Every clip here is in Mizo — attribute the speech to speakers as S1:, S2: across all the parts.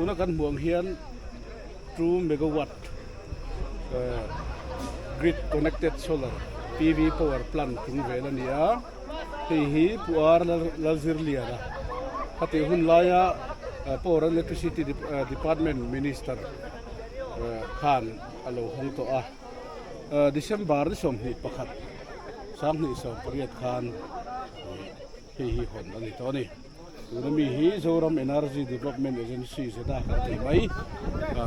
S1: tuna kan hmuh ang hian. Two megawatt grid connected solar PV power plant thum vel a ni a, hei hi Puar Lalzirliana khati hun laia Power and Electricity Department Minister khan a lo hawng tawh a. December ni sawmhnih pakhat, Sanghnih sawmpariat khan a ni. Hei hi hawn a ni tawh a ni. Tuna mi hi Zoram Energy Development Agency zeta kan tih mai a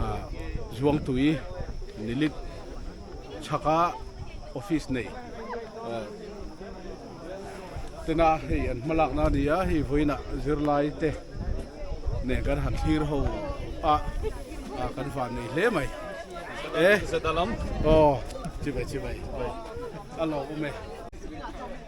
S1: Zuangtui Nilit chhaka office nei tena hei an hma lakna a ni a, hei vawiinah zirlai te nen kan han thlir ho a kan van nei hle mai. E zeta lam? Aw, chimai chimai, a lawm awm e.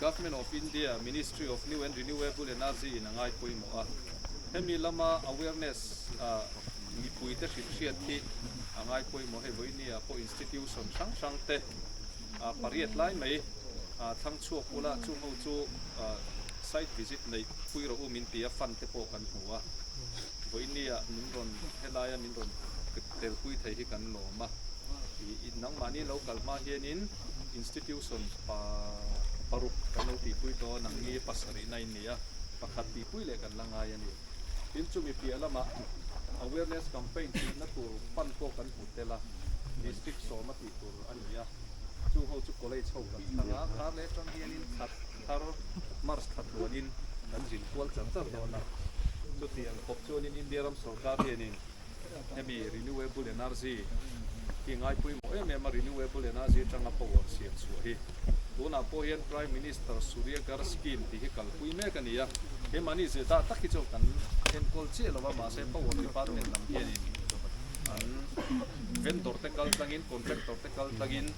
S1: Government of India Ministry of New and Renewable Energy in a ngai pawimawh a, hemi lama awareness a mipui te hrinhriat hi a ngai pawimawh hei vawiin a pawh institution hrang hrang te a pariat lai mai a thlang chhuak bula chung ho chu site visit neih pui rawh u min tia fund te pawh kan hmu a vawiin a min rawn helai a min rawn telpui thei hi kan lawm a tih nangmahni lo kal hma hianin institution pa paruk kan lo tih pui dawn ang nge pasarihna a inneih a pakhat tih pui leh kan la ngai a ni tin chumi piah lamah awareness campaign tihna tur pan pawh kan hmu tel a district sawma tih tur a ni a chu ho chu college ho kan thlang a khar leh atang hianin that thar march tha tluanin kan zin kual char char dawn a chutiang khawp chuanin india ram sorkar hianin Hemi Renewable Energy hi ngai pawimawh em em a, Renewable Energy atanga power siam chhuah hi. Tunah pawh hian Prime Minister Surya Ghar Scheme tih hi kalpui mek a ni a, he money zir dah tak hi chu kan enkawl chiah lo a, mahse Power Department lam hianin an vendor te kal tlangin, contractor te kal tlangin,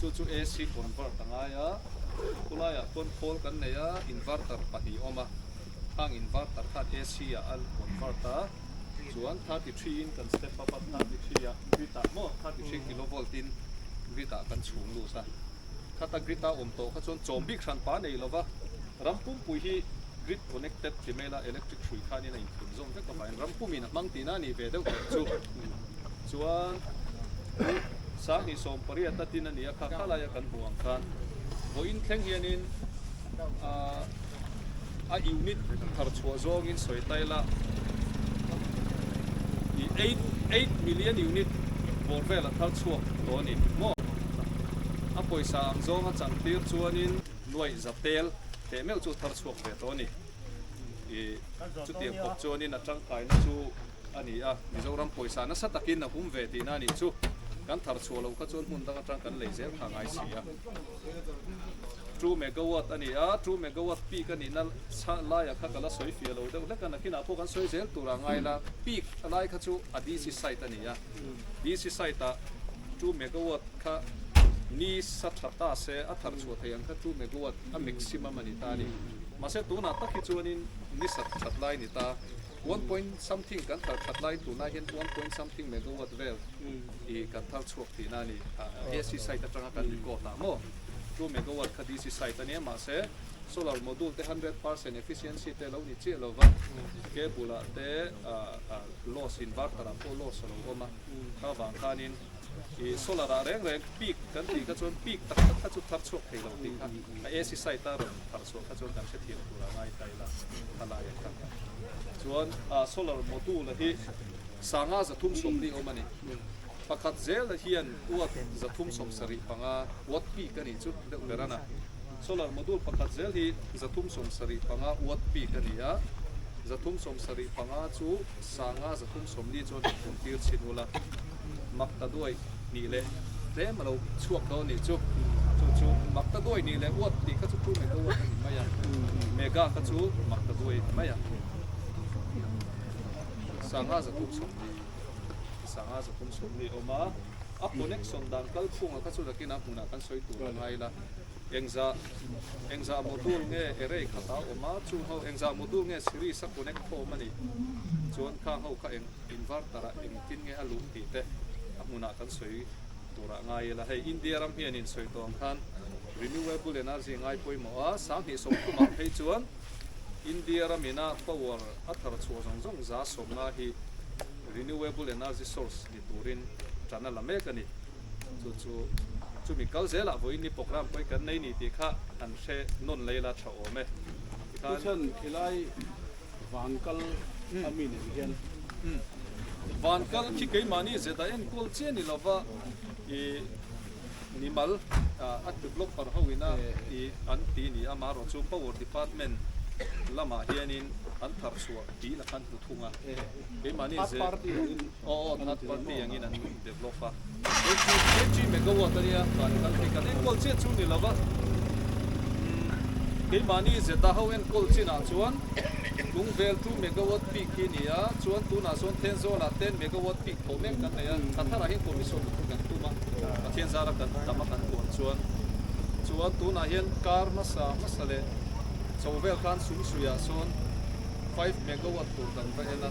S1: Chu chu AC convert a ngai a, khulaiah chuan khawl kan nei a, inverter pahnih a awm a, hang inverter khan AC ah a convert a, chuan thirty three in kan step up a, thirty three ah grid ah maw, thirty three kilovolt in grid ah kan chhung lus a, khata grid ah awm tawh kha chuan chawm bik hran pa nei lova, ram pumpui hi grid connected ti mela electric hrui khanin a inthlin zawm vek avangin ram pumin a hmang tihna a nih ve deuh teh chu. Chuan u Sanghnih sawmpariat na tin a nia kha kha laia kan hmuh ang khan vawiin thleng hianin ah a unit thar chhuah zawngin sawi ta ila i eight eight million unit bawr vela thar chhuak tawh a ni maw a pawisa ang zawnga changtir chuanin nuaih za tel teh meuh chu thar chhuak ve tawh a ni. Chutiang bawk chuanin a tangkaina chu a ni a, Mizoram pawisa nasa takin a hum ve tihna a nih chu. Kan thar chhuah lo kha chuan hmun dang atang kan lei zel kha a ngai si a. Two megawatt a ni a, two megawatt peak a nihna chhah laia kha ka la sawi fia lo deuh hlek a, nakinah pawh kan sawi zel tur a ngai la. Peak a lai kha chu a DC side a ni a, DC side ah two megawatt kha ni sa tha ta se a thar chhuah thei ang kha two megawatt a maximum a ni ta a ni. Mahse tunah tak hi chuanin ni sak that lai ni ta, one point something kan thar that lai tunah hian one point something megawatt vel hi kan thar chhuak thin a ni. AC side atanga kan record a maw? Chu megawatt kha DC side a nia mahse solar module te hundred percent efficiency te lo ni chiah lo va, cable ah te loss inverter ah pawh loss a lo awm a, kha vang khanin. Ih solar ah reng reng peak kan tih kha chuan peak tak tak kha chu thar chhuak thei lo tih kha a ac site a rawn thar chhuah kha chuan kan hrethiam tur a ngai ta ila a la leh tak chuan a solar module hi sanga za thum sawm ni awm a ni pakhat zel ah hian watt za thum sawm sarih panga watt peak a nih chu deuh ber a na solar module pakhat zel hi za thum sawm sarih panga watt peak a ni a za thum sawm sarih panga chu Sanga zathum sawmli chuan ka phun tir chhin ula, mak ta duai nih leh tlem a lo chhuak dawn nih chu, chu chu mak ta duai nih leh uat tih kha chu chu Mega uat a ni mai a, Mega kha chu mak ta duai a ni mai a. Sanga zathum sawmli, sanga zathum sawmli a awm a, a connection dan kal chhungah kha chu nakin a hmunah kan sawi tur a ngai la. Engzah Engzah module nge erei khat a awm a, chung ho Engzah module nge series a connect khawm a nih chuan kha ho kha eng inverter ah engtin nge a luh tih te a hmun ah kan sawi tur ah ngai ila hei India ram hian in sawi tawng khan renewable energy ngai pawimawh a, sang hnih sawm thum ah phei chuan India ram in a power a thar chhuah zawng zawng za sawmnga hi renewable energy source Ti turin tan a la mek a ni. Chu chu chumi kal zelah vawiin ni programme pawh i kan nei ni tih kha an hre nawn lei la tha awm e. Tikhan. Thuchhan, khilai van kal a mi nen hian. Van kal khi keimahni zet a enkawl chiah ni lova i mimal a tlu block par ho ina i an ti ni a mahro chu power department lamah hianin an thar chhuah tih la khan hmu thung a. Keimahni zet. Aw aw third party angin an develop a. Eighty kg megawatt ania khan a kal phei kal enkual chian chu ni lova umm keimahni zeta ho enkual chin ah chuan kung vel two megawatt peak hi ni a chuan tunah sawn Thenzawl ah ten megawatt peak thawh mek kan nei a Thathar ah hian commission lutuk kan tum a Pathian zara kan tam a kan puan chuan chuan tunah hian kar hmasa hmasa leh chho vel khan sumsuih ah sawn five megawatt tur dan va en a.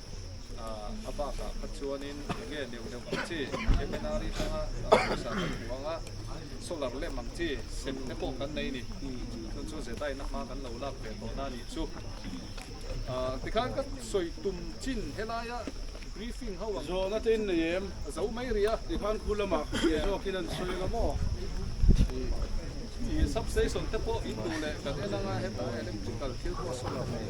S1: a bakah kha chuanin eng nge leu deuh ang chi Kemenari tanga pawisa kan hmu ang a solar lamp ang chi sem te pawh kan nei ni chuan chu zetaina hma kan lo lak ve tawh na nih chu tikhan ka sawi tum chin helaia briefing ho ang zawh nata in nei em zo mai ri a tikhan khu lama hriai zawk in an sawi ang a maw substation te pawh in duh leh kan en anga heta electrical thil pawh solar nei.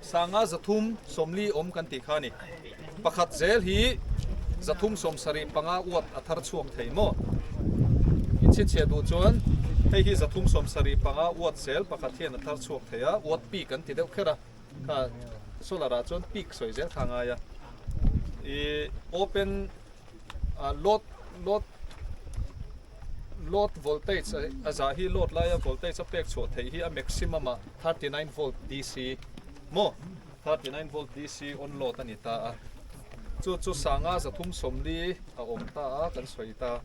S1: Sanga zathum sawmli awm kan tih kha a ni. Pakhat zel hi zathum sawm sarih panga uat a thar chhuak thei maw? In chhinchhiah duh chuan hei hi zathum sawm sarih panga uat zel pakhat hian a thar chhuak thei a, uat pik an ti deuh kher a. Kha Solar-a chuan pik sawi zel kha a ngai a. I open A load load load voltage a za hi load lai a voltage a pek chhuah thei hi a maximum a thirty nine volt DC mo thirty nine volt DC on load a ni ta a chu chu sanga za thum sawm li a awm ta a kan sawi ta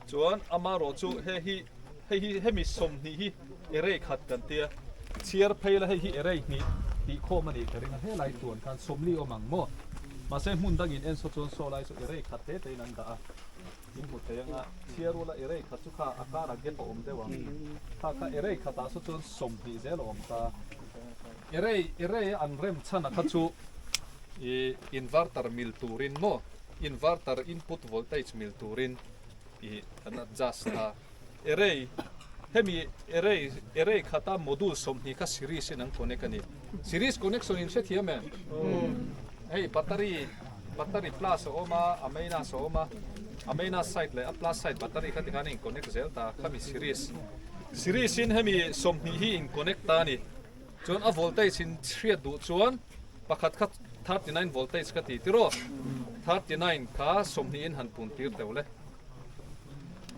S1: chuan amarawh chu hei hi hei hi hemi sawm hnih hi Erei khat kan ti a, chhiar phei la hei hi erei hnih tih khawm a nih ka ring a, helai tuan khan sawmli awm ang maw? Mahse hmun dangin en saw chuan saw lai chu erei khat te tein an dah a, min hmu thei ang a, chhiar ula erei khat chu kha a karah gap a awm deuh ang, kha kha erei khatah saw chuan sawm hnih zel a awm ta. Erei erei a an rem chhan a kha chu i inverter mil turin maw, inverter input voltage mil turin i kan adjust a, Array, hemi array, array khata module sawmhnih kha series in an connect a ni. Series connection in hrethiam em? Hei battery, battery plus a awm a, a minus a awm a, a minus side leh a plus side battery kha tikhan in connect zel ta, khami series. Series in hemi sawmhnih hi in connect ta a ni. Chuan a voltage in hriat duh chuan pakhat kha thirty nine voltage ka ti tiraw, thirty nine kha sawmhnih in han puntir deuh le.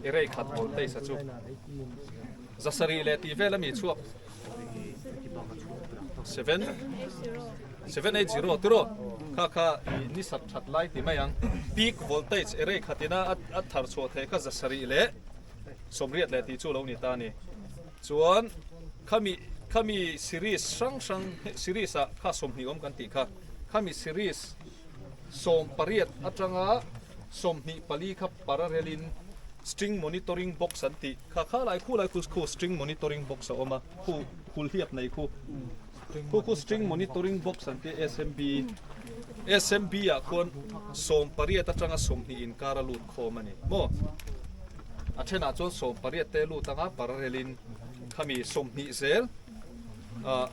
S1: I rei khat voltage a chu zasarih leh tih vel a mi chhuak seven seven eight zero tu ro kha kha i ni sat that lai ti mai ang peak voltage i rei khatina a thar chhuah thei kha zasarih leh somriat leh tih chu lo ni ta ni chuan khami khami series hrang hrang series a kha sawmhnih awm kan tih kha khami series Sawm pariat atanga sawmhnih pali kha parallel in string monitoring box an tih kha kha lai khu lai khu khu string monitoring box a awm a, khu hulhliap nei khu khu khu string monitoring box an tih a SMB SMB ah khuan sawm pariat atanga sawmhnih inkar a lut khawm a ni maw? A then ah chuan sawm pariat te lut anga parallel in khami sawmhnih zel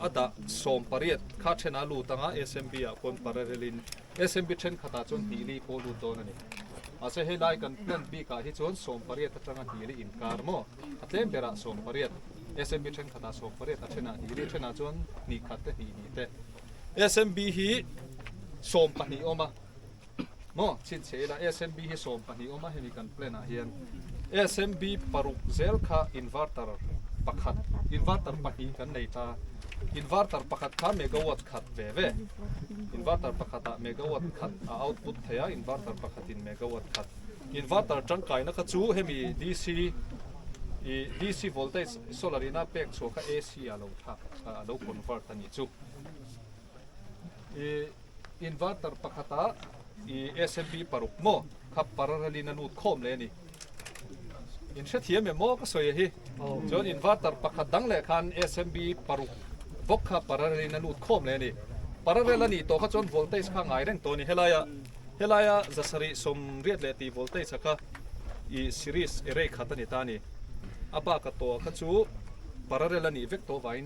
S1: a dah sawm pariat kha thena lut anga SMB ah pawn pararelin SMB thenkhatah chuan tihli pawh lut dawn a ni. Mahse helai kan plan bikah hi chuan sawm pariat atanga tihli inkar maw? A tlem berah sawm pariat, SMB thenkhatah sawm pariat a then a, tihli thenah chuan hnih khat te hnih hnih te. SMB hi sawm pahnih a awm a. Maw? Chhinchhe ila SMB hi sawm pahnih awm a, hemi kan plan ah hian SMB paruk zel kha inverter pakhat, inverter pahnih kan nei ta. Inverter pakhat kha megawatt khat ve ve. Inverter pakhat ah megawatt khat a output thei a, inverter pakhat in megawatt khat. Inverter tangkai na kha chu hemi DC i DC voltage solar ina pek chhuah kha AC ah lo thlak, a lo convert a ni chu. I inverter pakhata i SMB paruk maw kha parallel in a lut khawm leh ani in hrethiam em maw ka sawi a hi chuan inverter pakhat dang leh khan SMB paruk vawk kha parallel in a lut khawm leh ani parallel ani to kha chuan voltage kha ngai reng to ni helaia helaia zasari som riat leh ti voltage a kha i series erei khat ani ta ni apa ka to kha chu parallel ani vek to vain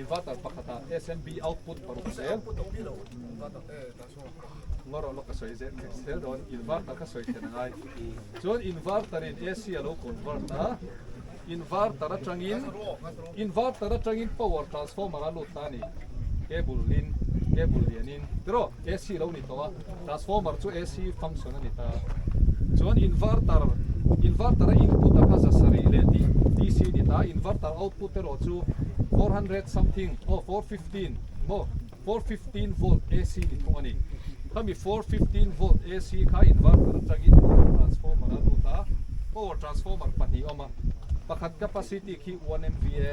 S1: Inverter pakhata SMB output paruk zel ngarawh lawk ka sawi zet theih zel dawn inverter ka sawi thlen angai chuan inverter in AC a lo convert a inverter atangin inverter atangin power transformer a lut ta a ni cable in cable lianin tiraw AC lo ni tawh a Transformer chu AC function a ni ta. Chuan inverter, inverter a input a kha za sarih leh tih DC a ni ta. Inverter output erawh chu four hundred something aw four fifteen maw four fifteen volt AC ni thung a ni. Khami four fifteen volt AC kha inverter atangin power transformer a lut a. Power transformer pahnih a awm a. Pakhat capacity khi one MVA.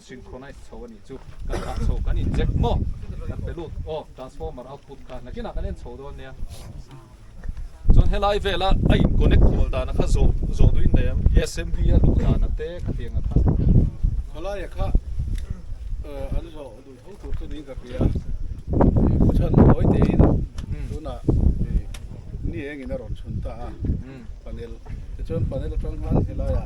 S1: Hring khaw nice chho anih chu kan hah chho kan in check maw kan pe lut aw transformer output kha nakin ah kan en chho dawn nia chuan helai vela a in connect kual dan a kha zo zo duin nei ang smv a luh dan ate kha tiang a kha helai a kha an zo du tho tur chu ning ka tia ko chan hoi te in tuna ni eng in a ron chhun ta a panel te chuan panel atang han helai a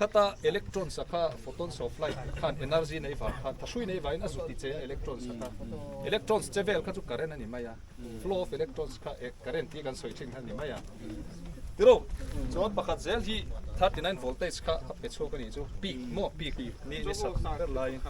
S1: Khata electron sakha photons of light khan energy nei vang khan tha hrui nei vangin a zut ti che a electron sakha. Electrons che vel kha chu current a ni mai a. Flow of electrons kha e current hi kan sawi thin kha a ni mai a. Tiro chuan pakhat zel hi 39 voltage kha a pe chhuak a nih chu peak maw peak ni ni sak ber laiin.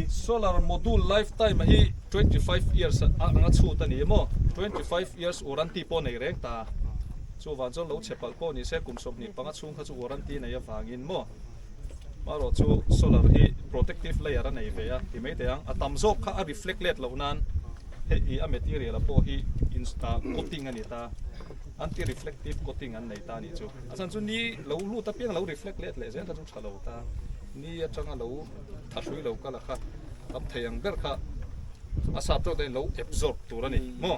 S1: Solar module lifetime a hi twenty five years a anga chhut a ni a maw twenty five years warranty pawh a nei reng ta a chuvang chuan lo chhe palh pawh ni se kum sawmhnih panga chhung kha chu warranty nei avangin maw. Marawh chu solar hi protective layer a nei ve a ti mai teh ang. A tam zawk kha a reflect let loh nan hei i a material a pawh hi in ah coating a ni ta. Anti reflective coating an nei ta a nih chu. A chhan chu ni lo lut apiang lo reflect let leh zel kha chu tha lo ta. Ni atanga lo tha hrui lo kal a kha tam thei ang ber kha a sap tawk dahin lo absorb tur a ni maw.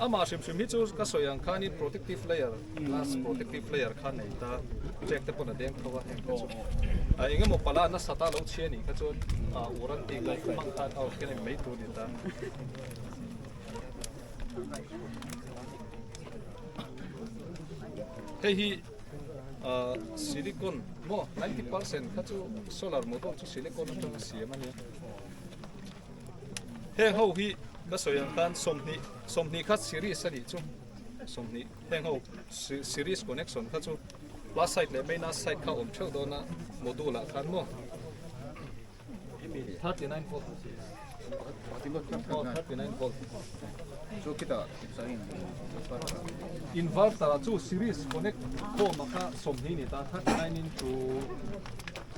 S1: Amah hrim hrim hi chu ka sawi ang khanin protective layer glass protective layer kha nei ta check te pawn a deng tho a heng te chu a eng emaw pala nasa ta lo chhia nih kha chuan a uran tih ngai khawp ang khan aw khian a in mei tur ni ta hei hi ah silicon maw ninety percent kha chu solar module chu silicon atanga siam a nia Heng ho hi ka sawi ang khan sawmhnih sawmhnih kha series a nih chu sawmhnih heng ho series connection kha chu plus side leh minus side kha awm theuh dawn a module ah khan maw 39 volt 39 volt chu kita inverter ah chu series connect form a kha sawmhnih ni ta 39 into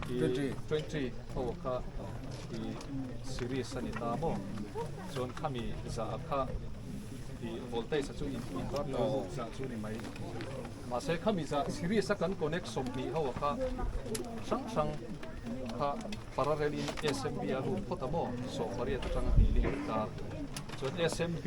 S1: 20 20 ho kha Series a ni ta maw? Chuan khami zah a kha i voltage a chu in inverter luk zah chu ni mai. Mahse khami zah series a kan connect sawm hnih ho a kha hrang hrang kha parallel in SMB a lut phawt a maw? Sawh pariat atang a tih leh ta. Chuan SMB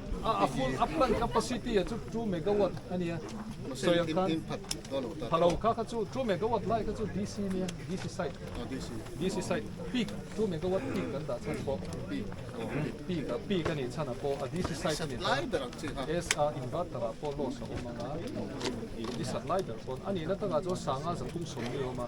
S1: A full a plant capacity ah chu two megawatt a nia sawi ang khan pha lo kha kha chu two megawatt lai kha chu DC a nia DC side DC side peak two megawatt peak kan dah chhan pawh peak a peak a nih chhan ah pawh a DC side a ni a inverter ah pawh loss a awm ang a ni chhan lai ber pawn a nihna takah chuan sanga zathum sawm ni awm a.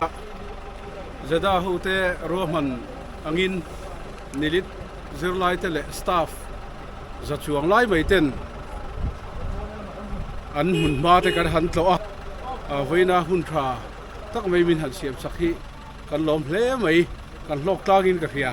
S1: Dak Jeddah hote ruahman angin Nilit zirlaite leh staff za chuang lai mai ten an hmun hma te kan han tlawh a, vawiina hun tha tak mai min han siam chak hi kan lawm hle mai, kan hlawk tlangin ka hria.